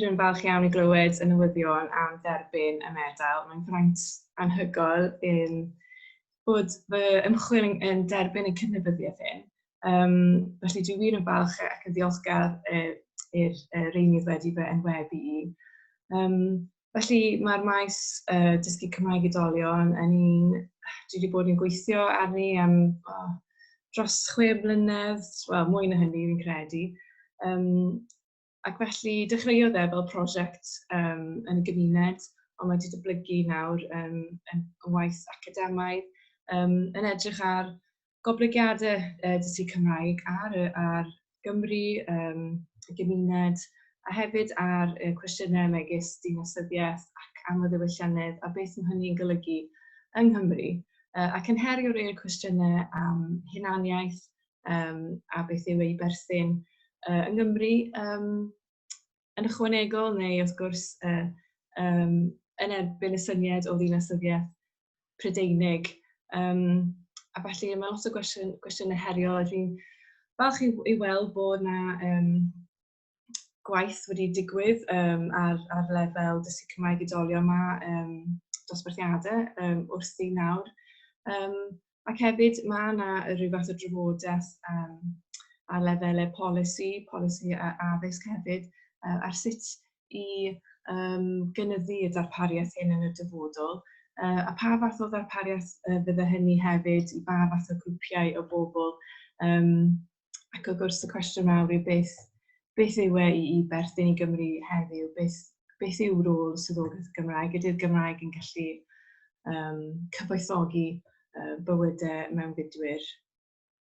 wir yn falch iawn i glywed y newyddion am dderbyn y medal. Mae'n fraint anhygoel yn bod fy ymchwil yn, yn derbyn y cydnabyddiaeth hyn. Um, felly dwi wir yn falch ac yn ddiolchgar uh, i'r uh, reinydd wedi fy enwebu i. Um, felly mae'r maes uh, dysgu Cymraeg i dolion yn un dwi wedi bod yn gweithio arni am oh, dros chwe mlynedd, wel mwy na hynny fi'n credu. Um, Ac felly dechreuodd e fel prosiect yym yn y gymuned, ond mae wedi dyblygu nawr yn, yn, yn waith academaidd, um, yn edrych ar goblygiadau uh, dysgu Cymraeg ar, ar Gymru, um, y gymuned, a hefyd ar uh, cwestiynau megis dinasyddiaeth ac amlddewylliannedd a beth mae hynny'n golygu yng Nghymru. Uh, ac yn herio rhai o'r cwestiynau am hunaniaeth, um, a beth yw ei berthyn uh, yng Nghymru um, yn ychwanegol neu wrth gwrs uh, um, yn erbyn y syniad o ddinasyddiaeth Prydeinig. Um, a felly mae lot o gwestiynau heriol a dwi'n falch i, i weld bod yna um, gwaith wedi digwydd um, ar, ar lefel dysgu Cymraeg i dolio yma, um, dosbarthiadau um, wrth i nawr. Um, ac hefyd mae yna rhyw fath o drafodaeth um, ar lefelau polisi, polisi a addysg hefyd, uh, ar sut i um, gynyddu y darpariaeth hyn yn y dyfodol, uh, a pa fath o ddarpariaeth uh, fydde hynny hefyd i ba fath o grwpiau o bobl um, ac wrth gwrs y cwestiwn mawr yw beth, beth yw e i, i berthyn i Gymru heddiw? Beth, beth yw rôl y swyddogaeth Gymraeg? Ydy'r Gymraeg yn gallu um, cyfoethogi uh, bywydau mewnfudwyr?